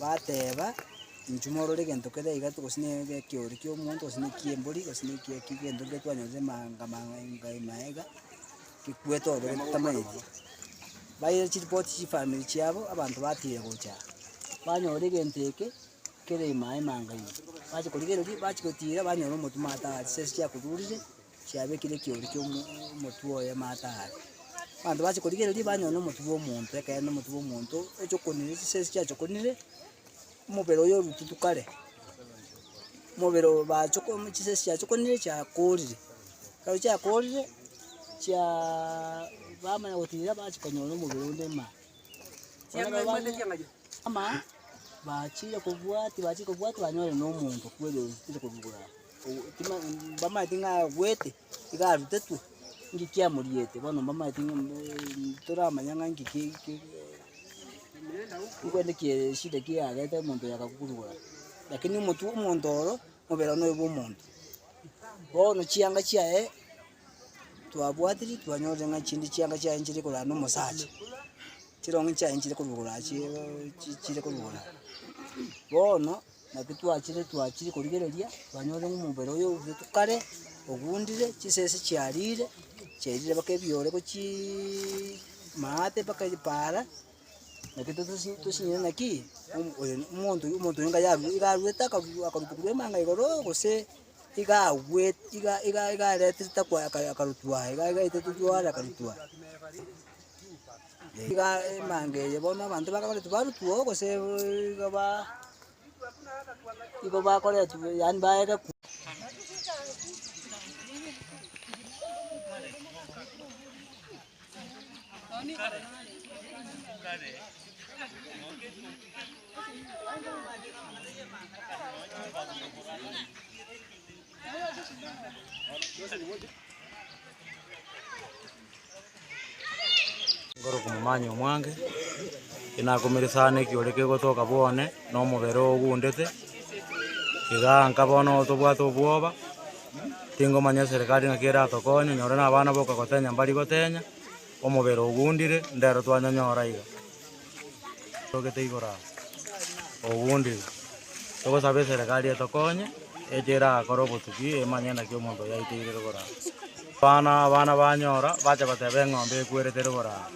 Bateeba, Inchuo morore egento kere iga to, gose nere ekeori ki'omonto, gose neki'embori, gose neki'eki gento kere twanyarete maanga maanga inga ime aye iga, gekwete ororo gento totamanyeti. Baira chiripoti chifamiri chiabo, abanto batiire gocha aa, banyora egento eke, kere ime aye maanga ime. Bacha korigereria, bachi gotiira, banyora omotwe maate aa, chisese chiakorurire, chiabekire ekeoori kia omo omotwe oye amaate aria. Abanto bache korigereria banyore na omotwe bwa omonto, ekeene omotwe bwa omonto ochokonire chise echio chiachokonire, omobere oye orututu kare, omobere oyo bachoko chise echio chiachokonire chiakoorire. Ekero chiakoorire, chiaaaa bamanya gotiira bachi konyora omobere onde maa. Amaa, bachire kobwati bachire kobwati banyore na omonto kweri orutire korwa igoro aa. mbamaeti ng'a abuete, iga arutetwe, nki kiamoriete bono mbamaeti ng'a toramanya ng'a nki ki ki nikwere kie eshida ekia yareta omonto oyo akakurwaa. Lakini omotu omonto oro, mobere one oyo bwa omonto. Bono chianga chiaye, twabwatiri twanyore ng'a chinde chianga chiaye nchire korana na omosacha, chirong'o chiaye nchire korwa chie chire korwa bono. Naki twachire twachire korigereria, twanyore ng'a omobere oyo ourete kare, ogundire, chisese chiarire, chiarire mpaka ebiore gochiiii maate mpaka ebipaara, naki totosi tosinyare ng'a ki, omo oyo no- omonto oyo omonto oyo niga yaru niga arwete akarubu akarubu korwa emanga igoroo gose iga agwet iga iga iga aretire takwa aka akarutwa aye iga iga aetete twaare akarutwa. Iga emanga eye bono abanto bakagora tibarutwoo gose igo ba igo bakoretwe yaani baegekwa. Nkore okomomanya omwange, tinakumire sana ekio ore kegotoka bwone, na omobere oogundete, iga nka bono tobwate obwoba, tingomanya eserekari ng'aki eratokonye, nyore na abana boka gotenya mbari gotenya, omobere ogundire, ndero twanyonyora iga. Togete igoro aa, obundi togosaba eserekari etokonye, echo erakore obotuki emanye naki omonto oyo aiteire rogoro aa. Abana abana banyora, bacha bateba eng'ombe ekwerete rogoro aa.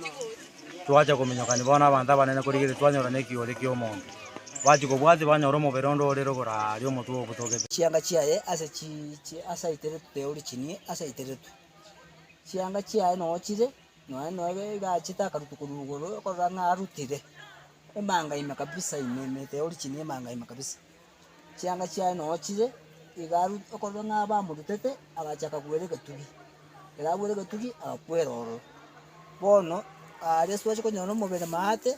Twacha kominyokania bono abanto abanene korigereria twanyora nekiori ki'omonto. Bachia kobwatia banyora omobere onde ore rogoro aa aria omotwe obotogete. Chianga chiaye ase chi chi asaiteretwe origini asaiteretwe. Chianga chiaye nochire Nonya nere iga achete akaruta korwa igoro okorora ng'a arutire emanga ime kabisa ime ime teori chini emanga ime kabisa. Chianga chiaye nonya chire, iga aru okorora ng'a bamorutete agacha akagwera egetugi. Ekero agwere egetugi agakwera ororo. Bono aria ase twache konyora omobere maate,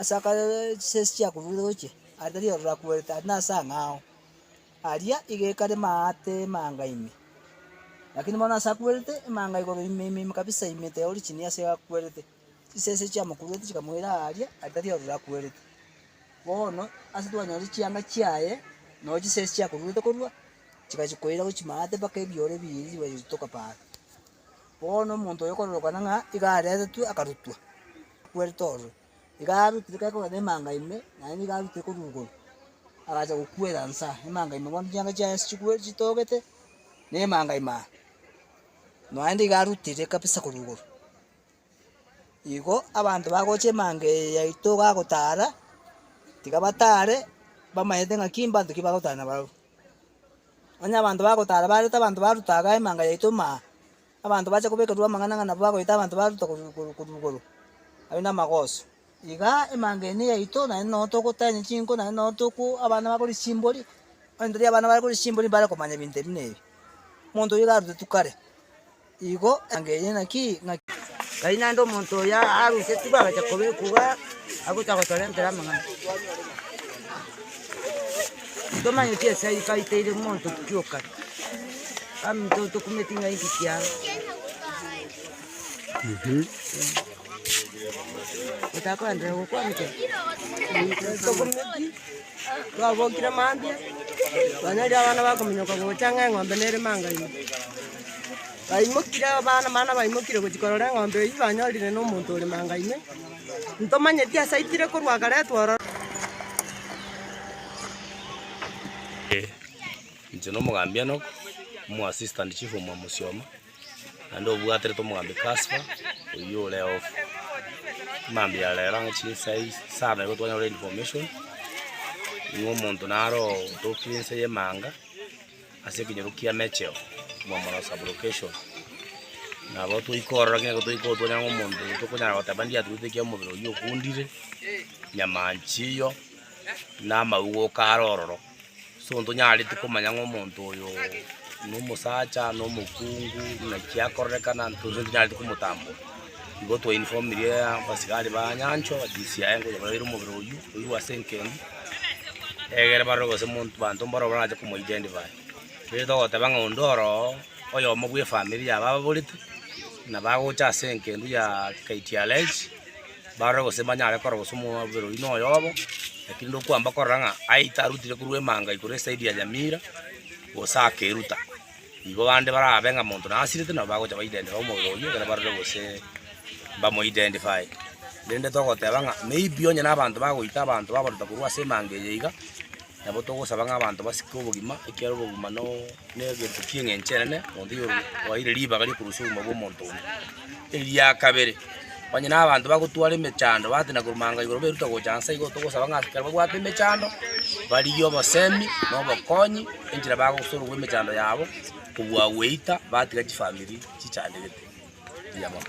ase akare chisesi chiakoruire gochia, aria tari ororo akwerete aria nase ang'ao. Aria iga ekare maate emanga ime, lakini bono ase akwerete emanga igoro ime ime ime kabisa ime teori chinia ase akwerete. Chisese chiamokuruete chikamoira aaria aria tari ororo akwerete. Bono ase twanyore chianga chiaye noo chisesi chiakoruete korwa chigachia koira gochia maate mpaka ebiore biiri chibachia gochitoka paara. Bono omonto oyo okororokana ng'a iga aretetwe akarutwa akwerete ororo. Iga arutire gekogera na emanga ime, naende nigo arutire koruborwa, agacha gokuera inse aa, emanga ime bono chianga chiaye ase chikwe chitogete, na emanga ime aa. Naende iga arutire kabisa koruborwa. Igo abanto bagocha emanga eye yaito iga gotara, tiga batare, bamanyete ng'aki mbanto ki bagotara nabarabwo. Onye abanto bagotara bareta abanto baruta iga emanga yaito ime aa. Abanto bache kobekerwa amang'ana ng'a nabwo agoita abanto ba Ruta korwa igoro korwa igoro, aria namagooso. Iga emanga ene yaito, naende nonya togotenyia chinko, naende nonya toku abana bakoria chimbori, onye tari abana bakoria chimbori mbare komanya ebinto ebi na ebi. Omonto oyio iga arutetwe kare, igo emanga eye naki ng'a. Tari naende omonto oyo arusetigwe agacha kobekwa igaa, agocha gotorentera amang'ana. Ntomanyeti ase ayio twaiteire monto tukiokana. Baminto tokumeti ng'a inki kiago. Otaka koenderea gokwanchwa. Tokumeti, twabokire mambia, twanyarire abana bakominyoka gocha ng'a eng'ombe nere mangaima. Baimokire abana mana baimokire gochia korora eng'ombe eyio banyorire na omonto ore mangaima. Ntomanyeti ase aitire korwa akaretwa ororo. Ee, inche nomogambi Enock, omo assistant chief omwa Musioma, naende obwaterete omogambi Casper, oyio ore off. Mambia ya rero ang'e chinsa is- isano igo twanyora information, ng'a omonto naro otokire ense y'emanga. Ase ekenyoro kia Mecheo, omwomora o Sublocation, nabo toikorora ng'a nigo toigotwa nyang'au omonto oyo tokonyara goteba ndiaturete ekiagera omobere oyio okundire, nyamancha eyio, na amaugoka are ororo. Ase obotuko tonyareti komanya ng'a omonto oyo nomosacha, nomokungu, naki akorerekana, tonyareti komotambora. Nigo twainfomirie abasigari ba Nyanchwa batisia aye ngonya baraire omobere oyio oirwe ase enkendi egere barore gose monto banto mboro barache komo identify. Riria togoteba ng'a onde oroo oyomo bwa efamiri yabo ababorete na bagocha ase engendu ya KTLH barore gose banyare korora gose omobere oyio noyobo lakini ndokwamba korora ng'a aye tarutire korwa emanga igoro esaidi ya Nyamira gose akeruta. Nigo bande barabe ng'a monto nasirete nabo bagocha ba-identify omobere oyio ekero barore gose mbamoidentify. Rende togoteba ng'a maybe onye nabanto bagoita abanto babarenta korwa ase emanga eye iga, nabo togosaba ng'a abanto basike obogima ekiagera obogima no negento ki'eng'encho enene, monto oyo oire ribaga ri'okorusia obogima bw'omonto onde. Eria kabere, onye nabanto bagotwara emechando batina korumanga igoro beruta gocha inse, igo togosaba ng'a ekero babwate emechando barigie obosemi na obokonyi enchera bagosororwa emechando yabo kobua gweita batiga chifamiri chichandegete. Eria mono.